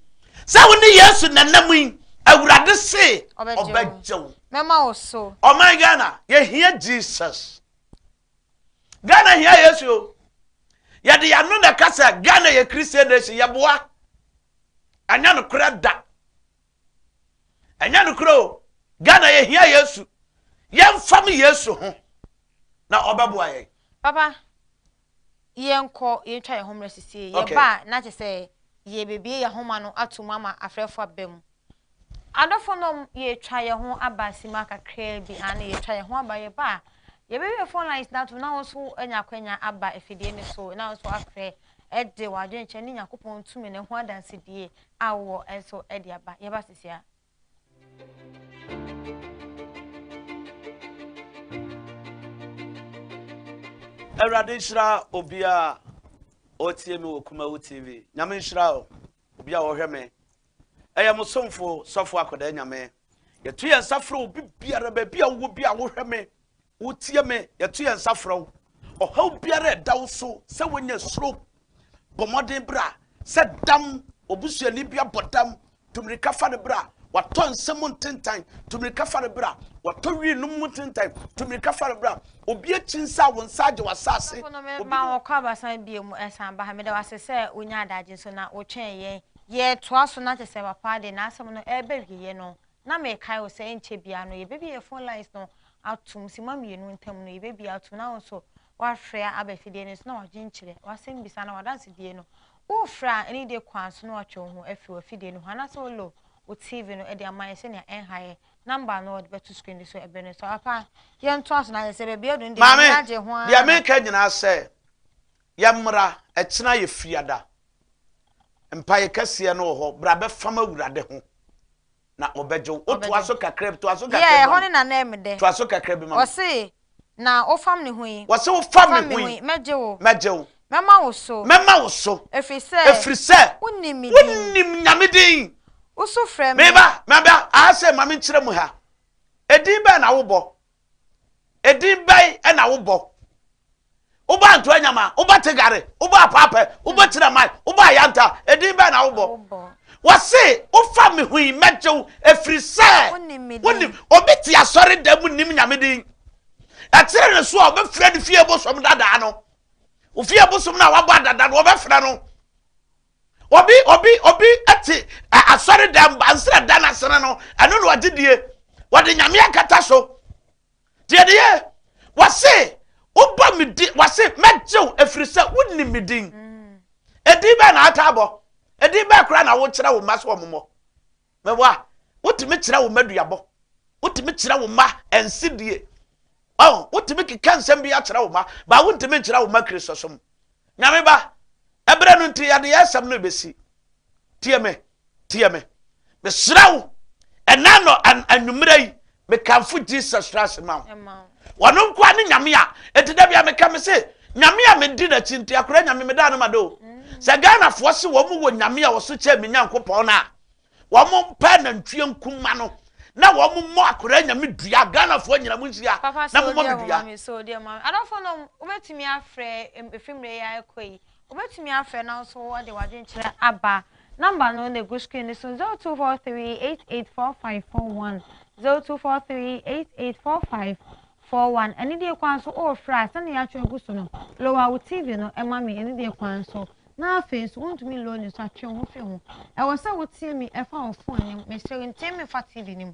Sɛ wo ne Yesu nanam yi. Awurade se ɔbɛgye wo. Mɛma wo so. Ɔman Ghana, yɛhia Jesus. Ghana hia Yesu o. Yɛde yɛano na ɛka sɛ Ghana yɛ Christian nation, yɛboa. Ɛnyɛ nokorɛ da. Ɛnyɛ nokorɛ o. Ghana yɛhia Yesu. Yɛmfam Yesu ho na ɔbɛboa yɛn. Papa, yɛnkɔ yɛntwa yɛn ho mmerɛ sisie. Yɛba a na kyɛ sɛ yɛbɛbie yɛn homa no atom ama afrɛfoɔ aba mu. Adɔfonom, yɛretwa yɛn ho aba simma kakraa bi, aane, yɛretwa yɛn ho aba, yɛba a, yɛbɛwie phone lines no atom na wo nso anya akwanya aba afidie no so na wo nso afrɛ de w'adwenkyerɛ ne Nyankopɔn tumi no ho adansedie a wowɔ nso de aba. Yɛba sesia. Awurade nhyira obiara ɔretie me wɔ Kumawu TV. Nyame nhyira wo, obiara ɔrehwɛ me Ɛyɛ mo somfo Sɔfo Akwadaa Nyame. Yɛto yɛn nsa frɛ wo bibiara, baabi a wowɔ bi a wohwɛ me, wotie me, yɛto yɛn nsa frɛ wo. Ɔhaw biara ɛda wo so sɛ wonya suro, bɔ mmɔden bra, sɛ dam, obusuani bi abɔ dam, tumirika fa no bra, watɔ nsa mu ntentan, tumirika fa no bra, watɔ wi nom mu ntentan, tumirika fa no bra, obi akyi nsa a wo nsa agye w'asase. Obi ma wɔkɔ abasan bie mu ɛsan ba ha, meda wase sɛ wonya adagye nso na wotwɛn yɛn Yɛtoa so na kyerɛ sɛ papa de n'asɛm no reba awieɛ no, na mekae wo sɛ ɛnkyɛ biara no yɛbɛbie yɛn phone lines no atom, simma mmienu ntam no yɛbɛbie atom na wo nso woafrɛ aba afidie no so na woadwenkyerɛ w'asɛmbisa anaa w'adansedie no. Worefrɛ a, ɛne dee kwan so na woatwe wo ho afiri w'afidie no ho anaasɛ wolo wo TV no de ama yɛn sɛnea ɛnha yɛn. Number no wɔde bɛto screen no so ɛberɛ no so. Papa, yɛntoa so na kyerɛ sɛ baabi aduru no deɛ, m'ani agye ho ara. Maame, deɛ mereka nyinaa sɛ, Yɛ mmra, ɛkyena yɛ fiada. Mpaeɛ kɛseɛ no wɔ hɔ, bra bɛfam Awurade ho na ɔbɛgye wo. Wo toa so kakra bi, toa so kakra bi ma me. Yɛ ɛhɔ ne nanam me dɛ. Toa so kakra bi ma me. Ɔse, na wo fam ne ho yi. Ɔse wo fam ne ho yi. Mɛgye wo. Mɛgye wo. Mɛma wo so. Mɛma wo so. Ɛfiri sɛ. Ɛfiri sɛ. Wonim me din. Wonim Nyame din. Wosu frɛ me. Meba, meba, aha sɛ ma me nkyerɛ mu ha. Ɛdin bɛn na wobɔ? Edin bɛn na wobɔ? Wobɔ Antoa Nyama, wobɔ Tegare, wobɔ Apaapɛ, wobɔ Kyinamai, wobɔ Ayanta, edin bɛn na wobɔ? Wɔse, wofa me ho yi, mɛgye wo, ɛfiri sɛ wonim. Obi te asɔre da mu nim Nyame din. Ɛkyere ne so a, wɔbɛfrɛ no fie bosom dadaa no. Ofie bosom no a wabɔ adada no, wɔbɛfrɛ no. Obi obi obi te asɔredan bansere dan ase no no ɛno na ɔgye die wɔde nyame akata so deɛ ne yɛ wɔse wobɔ me di wɔse mɛgyew ɛfiri sɛ wonim me din ɛdin mm. bɛɛ na ata abɔ ɛdin bɛɛ koraa na wokyerɛ wo mma so ɔmomɔ Mɛboa. Wotumi kyerɛ wo mma duabɔ. Wotumi kyerɛ wo mma nsidie. Ɔn, wotumi keka nsɛm bi akyerɛ wo mma, baa wontumi nkyerɛ wo mma Kristosom. Nyame ba, ɛberɛ no nti yɛde yɛ asɛm no ɛbɛsi. Tie me, tie me. Mesrɛ wo, ɛnɛ anɔ anwummerɛ yi, Mekamfo Jesus Christ ma wo. Ɔno nkoa ne Nyame a enti da bia meka me se Nyame a medi n'akyi nti akora Nyame medaa no ma do. Sɛ Ghanafoɔ se wɔn wɔ Nyame a ɔso kyɛn me Nyankopɔn no a wɔn pɛ nantwie nkuma no na wɔn mmɔ akora Nyame dua Ghanafoɔ nyina mo nhyia na momɔ me dua. Papa sɛ ɔdi ɛma me so ɔdi ɛma me. Adɔfoɔ no wobɛtumi afrɛ efimire yi a ɛkɔ yi. Wobɛtumi afrɛ na wo nso wode w'adwenkyerɛ aba. Nɔmba no na ɛgu screen no so, 0243884541, 0243884541. Anidie kwan so worefrɛ a, sɛdeɛ yɛatwerɛ agu so no, lower wo TV no ma me anidie kwan so. Na afei nso, wontumi nlow no nso a, twe wo ho firi ho. Ɛwɔ sɛ wotie me fa wo phone no mu. Mesrɛ wo, ntie me fa TV no mu.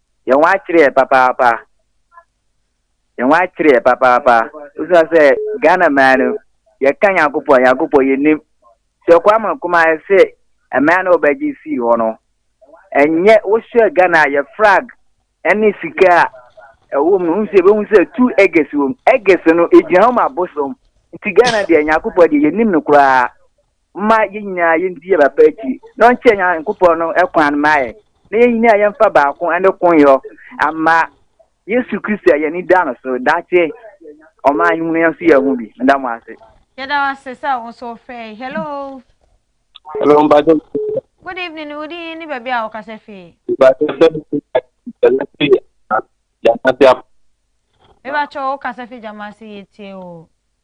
yɛn ho akyere yɛ papaapa yɛn ho akyere yɛ papaapa wosua sɛ ghana mmaa no yɛka nyankopɔn nyankopɔn yɛnim sɛ ɔkɔ ama nkoma sɛ mmaa no ɔbɛgye sii hɔ no ɛnyɛ wohwɛ ghana yɛ frag ɛne sika a ɛwɔ mu no ho sɛ ɛbɛhu sɛ tu ɛgɛs wɔ mu ɛgɛs no ɛgyina hɔ ma bosom nti ghana deɛ nyankopɔn deɛ yɛnim no koraa Momma yɛn nyinaa yɛndi yɛn papa akyi na ɔnkyerɛ Nyankopɔn no kwan mma yɛn, na yɛn nyinaa yɛmfa baako ne konyɔ mma Yesu Kristo a yɛn ani da no so. Daakye ɔman yi mu no yɛn nso yɛahu bi. Meda mo ase. Yɛda wo ase sɛ wo nso wofrɛe. Hello. Hello, mpakyɛ. Good evening, wo din ne baabi a wokasa fii. Mpakyɛ bɛ ɛlɛ fi Jamasi ap. Mebakyɛ wo kasa fi Jamasi yɛtie o.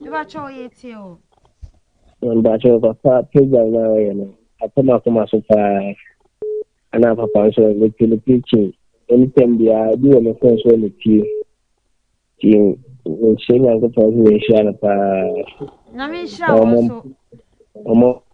Mebakyɛw yɛ tie o. Mebakyɛw papa program na ɔyɛ no akɔ makoma so paa ana papa nso mete ne preaching anytime biara bi wɔ me phone so ne tie tie nhyɛ nyankopɔn so nhyira no paa. Nyame nhyira wɔn so. Ɔmo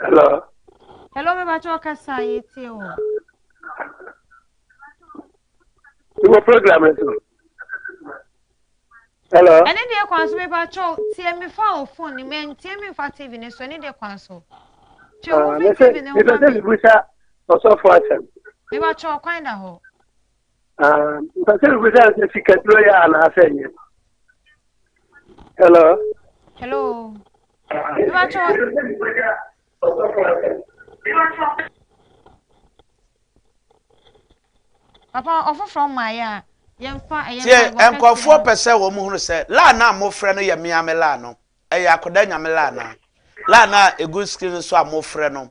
Hello. Hello, me bacho kasa yeti o. Iwo program nso. Hello. Ɛne deɛ kwan so me bacho tie me fa o phone ni me ntie me fa TV ne so ɛne deɛ kwan so. Twe wo ah, fi TV ne ho ma me. Me bacho kwan da hɔ. mpɛ sɛ bisa sɛ sikaduro yɛ anaasɛ nyɛ hello hello mebatwɔ papa ɔfoforɔ mmaeɛ a yɛmfa ɛyɛ nkurɔfoɔ pɛ sɛ wɔn hunu sɛ laa no a mofrɛ no yɛ meame laa no ɛyɛ akoda nyame laa no laa no a ɛgu screen so a mofrɛ no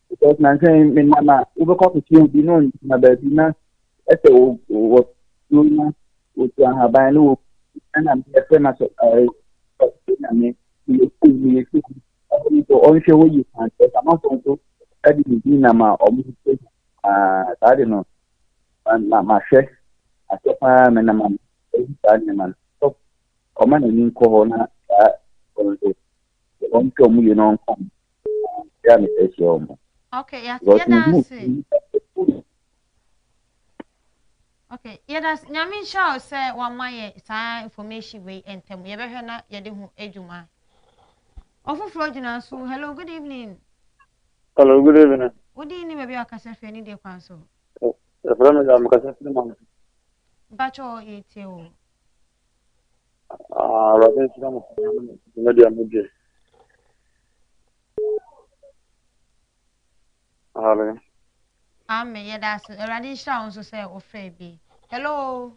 because na sɛ me nam a wobɛkɔ akɔkyerɛ obi na ɔngyina baabi na ɛsɛ wɔ tuo na wɔtu ahaban ne wɔ ɛna meyɛfrɛ no asɛ na me meyɛ sukuu meyɛ sukuu ɛhɔ nso ɔnhwɛ hɔ yie paa nti ɔsamafo nso ɛde ne din nam a ɔmo sɛ paa saa de no mahwɛ asɛ paa me nam a ɛyi saa nneɛma no ɔma n'ani nkɔ hɔ na saa ɔnso wɔn tɔ mu yɛ no nka yɛ ne sɛ hyɛ wɔn. Okay, yes, yeah, that's it. Okay, yeah, that's nyame nhyɛ sɛ wama yɛ saa information wei ntɛm yɛbɛhwɛ na yɛde ho adwuma ɔfoforɔ gyina so hello good evening hello good evening wodin ne baabi akasa firi ne deɛ kwan so ɛfrɛ me da mekasa firi ma mpakyɛ yɛtie o Ah, Awurade nhyira mo paa ne dwumadi a mudi. Amen. Amen. Yɛda ase. Awurade nhyira wo nso sɛ wofrɛ bi. Hello.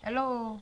Hello.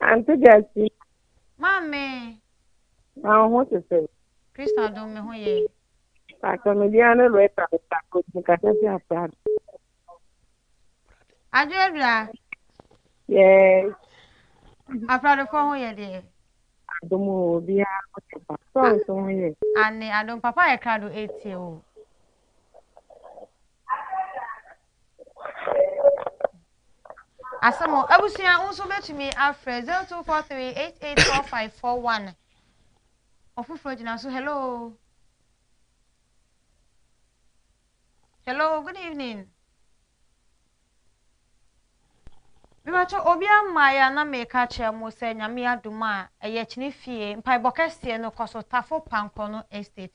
Ante Gyasi. Maame. Na wo ho te sɛ. Kristo adom me ho yɛ. Pàtó mi di ano lọ ẹta mi ta ko mi kasa si afraad. Adwuadwua. Yes. Afraadefo ho yɛ deɛ. Adom o obiara ho yɛ pa. Sɔɔs ho yɛ. Ane adom papa yɛ krado etie o. Asɛm o, abusua, wo nso wobɛtumi afrɛ 0243884541. Ɔfoforɔ gyina so, hello. Hello, good evening. Mebatɔ obi ama ya na meka kyerɛ mo sɛ nyame adom a ɛyɛ kyene fie mpaebɔ kɛseɛ no kɔ so tafo pankɔ no estate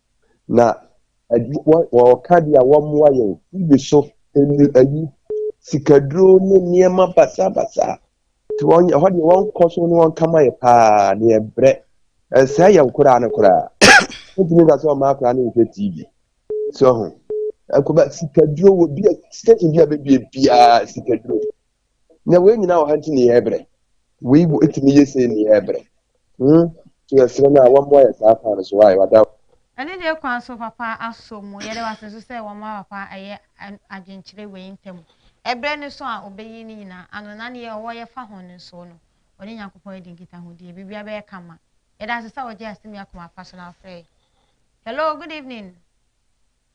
na wɔka deɛ wɔmmoa yɛn TV so ɛnu ayi sikaduro ne nneɛma basabasa nti wɔn ɛhɔ deɛ wɔnkɔ so ne wɔnka ma yɛ paa ne yɛbrɛ ɛnsɛ yɛ nkoraa no koraa wotumi ka sɛ ɔma akoraa no nhwɛ TV so ho ɛkɔba sikaduro wɔ bi a station bi a bɛbie biara sikaduro na wei nyinaa wɔ ha nti ne yɛ brɛ wei bu etumi yɛ sɛ ne yɛ brɛ hmm so yɛ srɛ no a wɔn ayɛ saa kwan no so wɔ ayɛ wada. ɛne deɛ kwan so papa asɔ mu yɛde wase nso sɛ wɔn a papa ɛyɛ adwenkyerɛ wei ntam ɛbrɛ no so a ɔbɛyi ne nyinaa ano na ne yɛ ɔwɔ yɛ fa ho no nso no ɔne nyankopɔn adi nkitahodie bibia bɛyɛ kama yɛde ase sɛ wɔgye asɛm yi akoma pa so na afrɛ hello good evening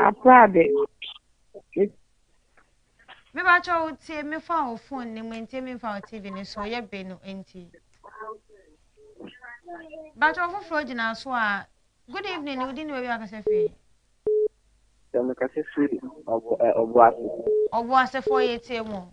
Aprade. Me ba kyɛ wo tie me fa wo phone ne mu ntie me fa wo TV ne so yɛ be no nti. Ba kyɛ wo foforɔ gyina so a good evening ne wodi ne wawi akasa fie. Sɛ me kasa fie ɔbo ase. Ɔbo ase foɔ yɛ tie mo.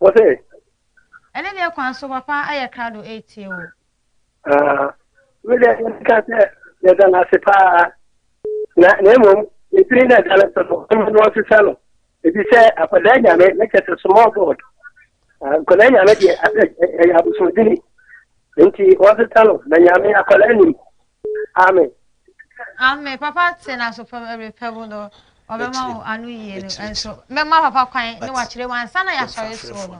Wɔ sɛ. Ɛne deɛ kwan so papa ayɛ krado ɛretie o. Ah, me deɛ yɛka sɛ yɛda no ase paa na na mmom ɛtiri na ɛda no so no ɔma no ɔsesa no ɛbi sɛ akwadaa nyame na kyɛ sɛ small god nkwadaa nyame deɛ ɛyɛ abosomdini nti ɔsesa no na nyame akwadaa nim Amen. Amen. Papa te na so pɛ ɛbɛ pɛ mu no ɔbɛma wo ano yie no ɛnso mɛma papa kwan ne wakyerɛ mu ansa na yɛasɔre soɔ no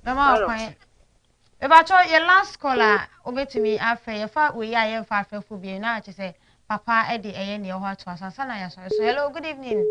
mɛma wo kwan bɛbatɔ yɛ last call a wobɛtumi afɛ yɛfa wei a yɛmfa afɛfo bie na akyɛ sɛ papa de ɛyɛ neɛ hɔ ato aso ansa na yɛasɔre so hello good evening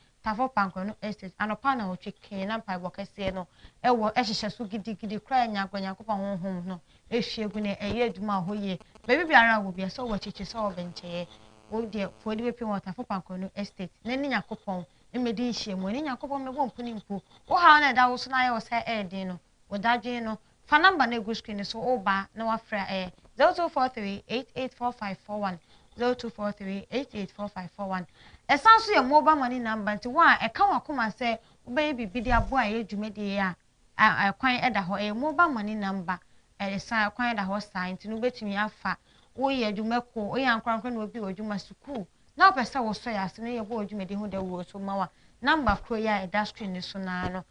Tafo Pankrenu Estate, anɔpa anawɔtwe kee na mpaebɔ kɛseɛ no wɔ hyehyɛ so gidigidi koraa nya agorɔ Nyankopɔn Honhom no hwie gu na ɛyɛ adwuma wɔ hɔ yie. Baabi biara a wɔ biara, sɛ wɔ akyirikyiri, sɛ wɔ bɛnkyɛeɛ, wo deɛ fa w'ani bɛpem wɔ Tafo Pankrenu Estate na ne Nyankopɔn mmɛdi nhyiamu, ɛne Nyankopɔn mmɛbɔ mpuni mpo. Wo haw no a ɛda wo so na ayɛ wo saa ɛyɛ den no, Wo dadwen no, fa number no a egu screen no so wo ba na wafrɛ a ɛyɛ, zero two four three eight eight four five four one, zero two four three eight eight four five four one. Ɛsan nso yɛ mobile money number nti wo a ɛka w'akoma sɛ wobɛyɛ biribi de aboa ɛyɛ dwumadi yi a, a kwan da hɔ, ɛyɛ mobile money number, ɛsan kwan da hɔ saa nti no wobɛtumi afa, wo yɛ adwuma kuo, wo yɛ ankorankoro na obi wɔ adwuma, sukuu, na wopɛ sɛ wo sɔ yɛ ase na yɛbɔ wo dwumadi ho dawuro nso ma wo a, number korɔ yi a ɛda screen no so no ara no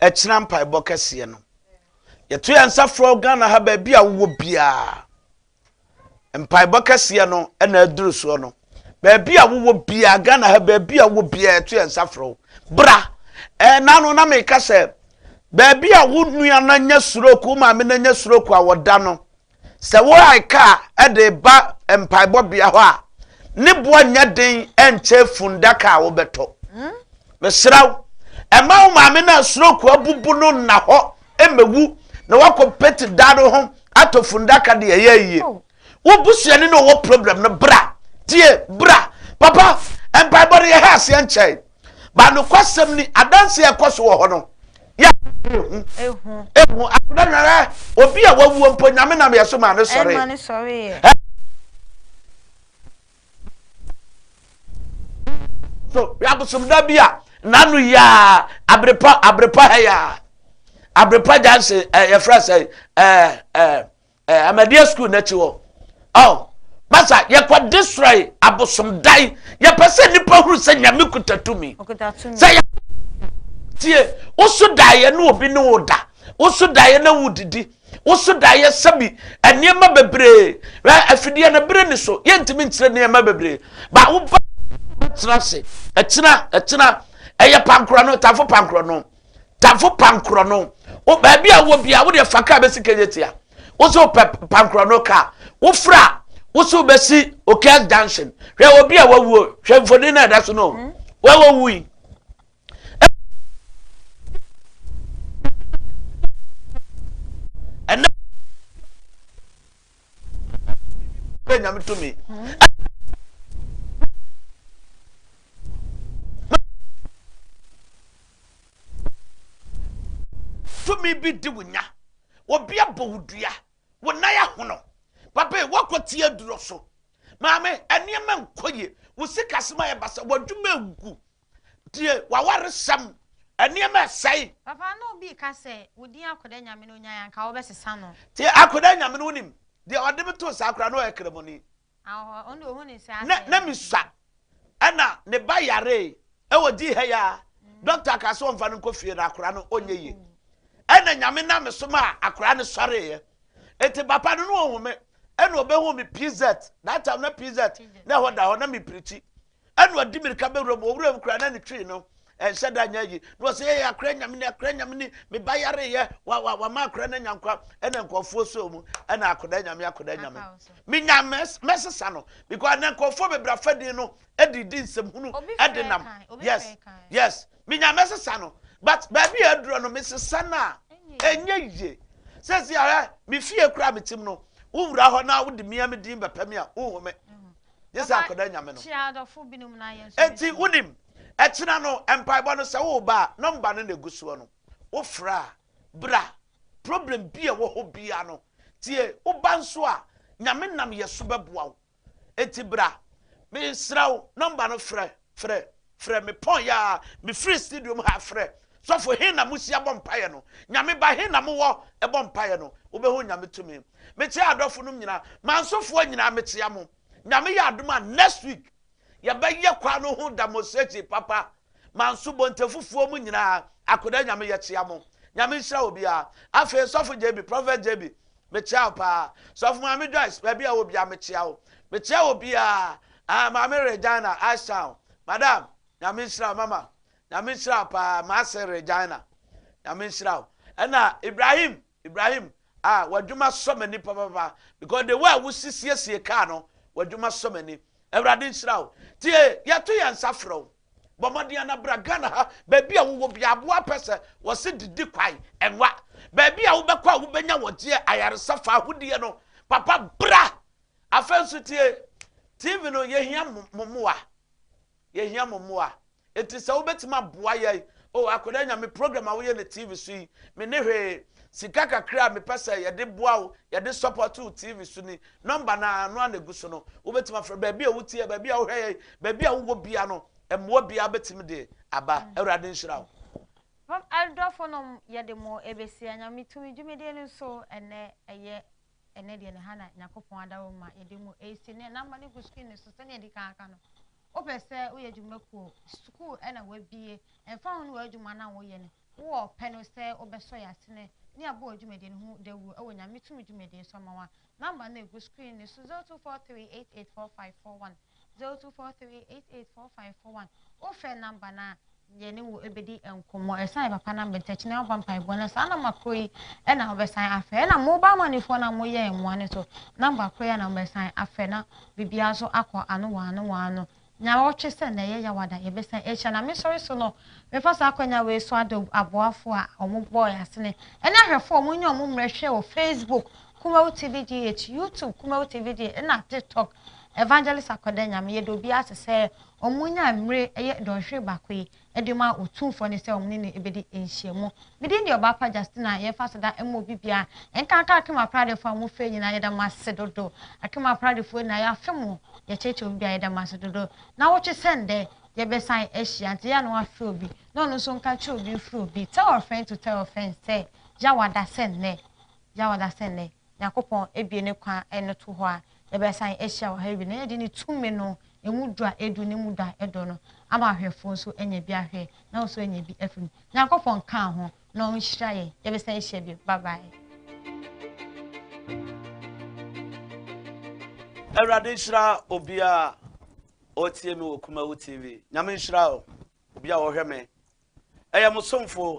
Ɛkyena mpaebɔ kɛseɛ no, yɛto yɛn nsa frɛ wo Ghana ha baabi a wowɔ biara. Mpaebɔ kɛseɛ no na aduru soɔ no. Baabi a wowɔ biara, Ghana ha baabi a wowɔ biara, yɛto yɛn nsa frɛ wo. Bra! Ɛna ano na meka sɛ, baabi a wo nua no anya suroku, wo maame no anya suroku a wɔda no, Sɛ worae kaa de reba mpaebɔbea hɔ a, ne boɔ nyɛ den nkyɛ fundaka a wobɛtɔ. Mesrɛ wo, mma wo maame no a stroke abubu no nna hɔ mmɛwu na woakɔ pete dan no ho atɔ fundaka de ɛyɛ ayie. Wo busuani na ɔwɔ problem no bra, tie, bra. Papa, mpaebɔ no yɛha aseɛ nkyɛe. ba nokwasɛm ni adanse a ɛkɔ so wɔ hɔ no yɛ ehu ehu ehu akɔda nyara obi a wawuo mpo nyame nam yɛ so maa ne sɔre ɛma ne sɔre yɛ so yabosomda bi a n'ano yia abrepa abrepa ha yia abrepa jansen ɛ yɛfrɛ sɛ ɛ ɛ Eh, amadia school n'akyi hɔ oh masa yɛkɔ desrɔe abosomdae yɛpɛ sɛ nnipa huru sɛ nyame kuta tumi sɛ yɛ tie woso daeɛ ne obi ne wo da woso daeɛ na wodidi woso daeɛ sɛbi nneɛma bebree afideɛ no bere ne so yɛntumi nkyerɛ nneɛma bebree ba woba tena ase ɛkyena ɛkyena ɛyɛ pankorɔ no tafo pankorɔ no tafo pankorɔ no wo baabi a wɔ bia wode fa kaa bɛsi kɛnyɛ tia wo so pɛ pankorɔ no kaa wofra wo so bɛsi okas junction hwɛ wɔ bia wawuo hwɛ mfoni no ɛda so no hmm? wawawu yi bɛ nyame tumi tumi bi di wo nya obi abɔ wo dua wo nan ahono papa yi wakɔ tie aduro so maame nneɛma nkɔ yie wo sikasɛm ayɛ basa w'adwuma agu Tie w'awaresɛm nneɛma a ɛsɛe. Papa na obi reka sɛ, Wo din Akoda Nyame no nyae a anka wobɛsesa no. Tie Akoda Nyame no wonim. Deɛ ɔde me too saa koraa na ɔyɛ kramoni. Awɔ ɔno deɛ ohu ne sɛ asɛe. Na misua ɛna ne ba yaree ɛwɔ gyi ha yi a doctor kaa sɛ ɔnfa no nkɔ fie na akora no ɔnyɛ yie. Ɛna Nyame nam me so maa akora no sɔreeɛ. Eti papa no na ɔhu me ɛna ɔbɛhuu me PZ that time na PZ na ɛhɔ da hɔ na mepirikyi Ɛna ɔde mmirika bɛ wuram, wɔ wuram koraa na ne twi no ɛnhyɛ da nyɛ yi na ɔsɛ yɛ akora nyame ne akora nyame ne me ba yare yɛ wa wa wa ma akora na nyankwa ɛna nkɔfoɔ so mu ɛna akora nyame akora nyame me nyame mɛsesa no because na nkɔfoɔ bebree afɛdin no ɛde di nsɛm hunu ɛde nam yes yes me nyame mɛsesa no but baabi a aduro no mesesa no a ɛnyɛ yie sɛ si ara me fie kura me tim no wowura hɔ na wode mia me din bɛpɛ me a wohu me Gye sɛ akɔda Nyame no. Enti wonim, ɛkyena no mpaebɔ no sɛ wo ba a, nɔmba no na ɛgu soɔ no, wo frɛ a, bra. Problem bi a ɛwɔ hɔ biara no, tie, wo ba nso a, Nyame nam yɛ so bɛboa wo. Enti bra, mesrɛ wo, nɔmba no frɛ. Frɛ, frɛ, mepɔn yɛ aa me firi studio mu ha frɛ Sɔfo he na mo hyia bɔ mpaeɛ no Nyame ba he na mo wɔ bɔ mpaeɛ no Wo bɛ hu Nyame tumi Mekyea adɔfo nom nyina Mansofoɔ nyina mekyea mo Nyame yɛ adom a next week yɛ bɛ yɛ kwan no ho demonstration papa Manso Bontefufuo mu nyina Akoda Nyame yɛkyea mo Nyame nhyira obiaa Afei Sɔfo JB, Prophet JB, Mekyea wo paa. Sɔfo Maame Joyce, baabi a ɛwɔ biara mekyea wo. Mekyea wɔ biara. Ahaa, Maame Regina, Ashtown. Madam, Nyame nhyira wo. Mama, Nyame nhyira wo paa. M'ase Regina, Nyame nhyira wo. Ɛna Ibrahim, Ibrahim, ah, w'adwuma sɔ m'ani papapapa because the way a wosi siesie kaa no, w'adwuma sɔ m'ani. Awurade nhyira wo. Tie, yɛto yɛn nsa frɛ wo. Bɔ mmɔden ara na bra Ghana ha, baabi a wowɔ biara, aboa pɛ sɛ wɔse didi kwan, ɛnwa. Baabi a wobɛkɔ a wobɛnya wɔgyeɛ, ayaresa fa ahodeɛ no, papa bra! Afei nso tie, TV no yɛhia mo mmoa, yɛhia mo mmoa. Enti sɛ wobɛtumi aboa yɛn, o akwadaa nya me program a woyɛ no TV so yi, me ne hwee, sika kakra a mepɛ sɛ yɛde boa wo, yɛde support wo TV so ni, Nɔmba no ara no ara na egu so no. Wobɛtumi afrɛ baabi a wotie, baabi a wohwɛ yɛn, baabi a wowɔ bia no, mmoa biara bɛtumi de aba. Awurade nhyira wo. Adɔfo nom yɛde mo ɛbɛsia Nyame tumi dwumadie no so ɛnɛ ɛyɛ ɛnɛ deɛ ne ha na Nyakopɔn adaworo ma yɛde mo ɛsi ne namba no gu screen no so sɛnea ɛdi kan aka no wopɛ sɛ woyɛ dwumakuo sukuu ɛna wabie ɛmfa ho no w'adwuma na woyɛ no Wowɔ ɔpɛ no sɛ wobɛsɔ yɛn asene ne abɔ wɔ dwumadie no ho dawuro wɔ Nyame tumi dwumadie so ama wo a, number no a ɛgu screen no so 0243884541, 0243884541, wofrɛ number no a, yɛne wo bɛdi nkɔmmɔ. Ɛsan yɛ papa na mbɛntɛ kyena wobɔ mpaebɔ na saa nɔma korɔ yi ɛna wobɛsan afrɛ ɛna mo ba amanifoɔ na mo yɛ mmoa no nso nɔmba korɔ yi na wobɛsan afrɛ na biribiara nso akɔ ano wɔ ano wɔ ano Nyaawɔtwe sɛ na ɛyɛ yaw ada yɛbɛsan ahyia na mesɔre so no mefa saa akwanya wei so adɔ aboafoɔ a wɔn bɔɔ yɛn asene ɛne ahwɛfoɔ a wɔn nya wɔn mmerɛ hwɛɛ wɔ Facebook Kumawu TV GH, YouTube Kumawu TV GH ɛna TikTok Evangelist Akwada Nyame yɛda obiara ase sɛ wɔn nyaa mmire ɛyɛ dɔnhwere baako yi de ma Otumfoɔ no sɛ wɔne no bɛdi nhyiamu. Me din de Ɔbaapa Justina. Yɛmfa aseda mma obi biara. Nkanka Akim Apradefoɔ a mofrɛ nyinaa, yɛda mo ase dodo. Akim Apradefoɔ nyinaa, yɛafe mo. Yɛkyerɛkyerɛ obi biara, yɛda mo ase dodo. Nnawɔtwe sɛ nnɛ, yɛbɛsan ahyia, nti yɛ a na wɔafrɛ obi, na ɔno nso nka nkyerɛ obi mfrɛ obi, tell a friend to tell a friend sɛ, yɛ a wɔada sɛ nnɛ, Gya ɔda sɛ nnɛ Nyankopɔn abue ne kwan no to hɔ a yɛbɛsan ahyia wɔ ha awie na yɛde ne tumi no ɛmu dɔ a ɛdu ne mu dɔ a ɛdɔ no ama ahwɛfoɔ nso anya bi ahwɛ na wo nso anya bi afiri mu. Nyankopɔn nkaa ho na ɔnhyira yɛn. Yɛbɛsan ahyia bio. Bye bye. Awurade nhyira obiara a ɔretie me wɔ Kumawu TV. Nyame nhyira wo, obiara a ɔhwɛ me. Ɛyɛ mo somfo